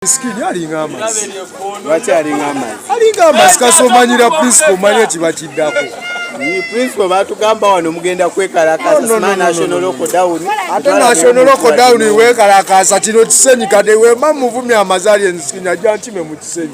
Miskini alinga amazi. Lwaki alinga amazi? Alinga amazi kasomanyira principal manya kiba kiddako. Principal batugamba wano mugenda kwekalakaasa sima national lockdown. Ate national lockdown wekalakaasa kino kisenyi kade wema muvumya amazali enzikini ajja nkime mu kisenyi.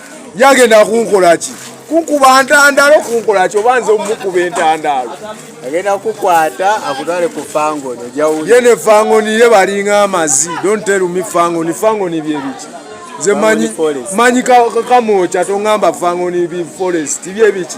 yagenda kunkola ki kunkuba ntandaalo kunkola ki oba nze omukuba entandaalo agenda kukwata akutwale ku fangoni ye ne fangoni ye balinga amazi don't tell me fangoni fangoni byebiki nze manyi manyi kakamwokya tongamba fangoni bi forest byebiki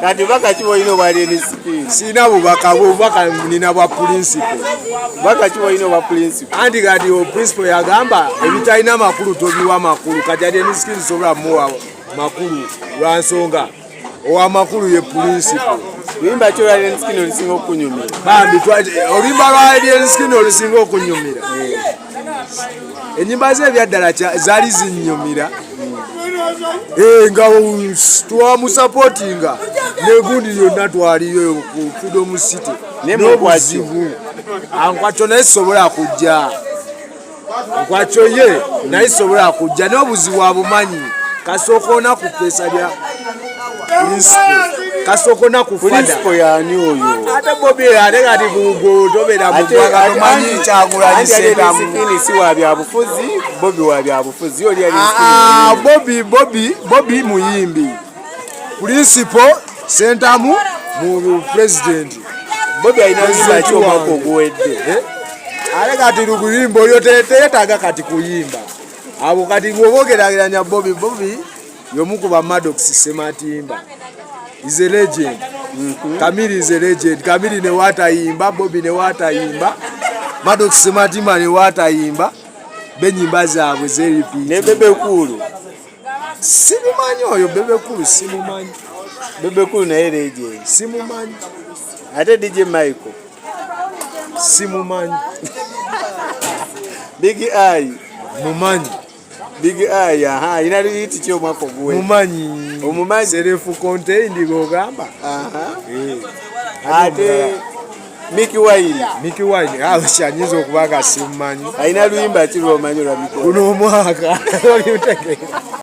kati baka ki bwolina obwali enisikiini sirina bubaka bubaka nina bwa pulinsipo baka ki bwolina obwa pulinsipo anti kati pulinsipo yagamba ebitalina makulu tobiwa makulu kati ati enisikiini sobola muwa makulu lwa nsonga owamakulu ye pulinsipo limba ki olwaliensikini olusinga okunyumira bambi olimba lwaliensikini olusinga okunyumira eh. enyimba ze ebyaddala zaali zinyumira eh, nga twamusapotinga negundi yonna twaliyo ku freedom city nobuzibu ankwakyo naye sobola kujja nkwakyo ye naye sobola kujja nobuzibu abumanyi kasooka onaku pesa lya kasoko nakufada yani oyo ate bobi ate kati bugo tobera mugwagatomanyi kyagulanyisenamuini si wa byabufuzi bobi wa byabufuzi oli ali ah, ah, bobi bobi bobi muyimbi purinsipo sentamu mu pulezidenti bobi alina kuyimba ki omwaka oguwedde eh? ate kati lukuyimba oyo teyetaaga kati kuyimba abo kati gwobogeragiranya bobi bobi yomu ku bamadox sematimba is a legend mm -hmm. kamiri is a legend kamiri ne watayimba bobi ne watayimba madox sematimba ne watayimba benyimba zaabwe zeripi ne bebe kulu simumanyi oyo bebe kulu simumanyi bebe kulu naye legend simumanyi ate dj michael simumanyi big eye mumanyi Big Eye aha ina yiti kyo mwako gwe. Mumanyi. Omumanyi. Self contained gogamba. Aha. Eh. Ate Mickey Wine. Mickey Wine. Ah, shanyizo okubaga simanyi. Aina luimba kiro manyo la Mickey. Kuno mwaka. Oli utekeka.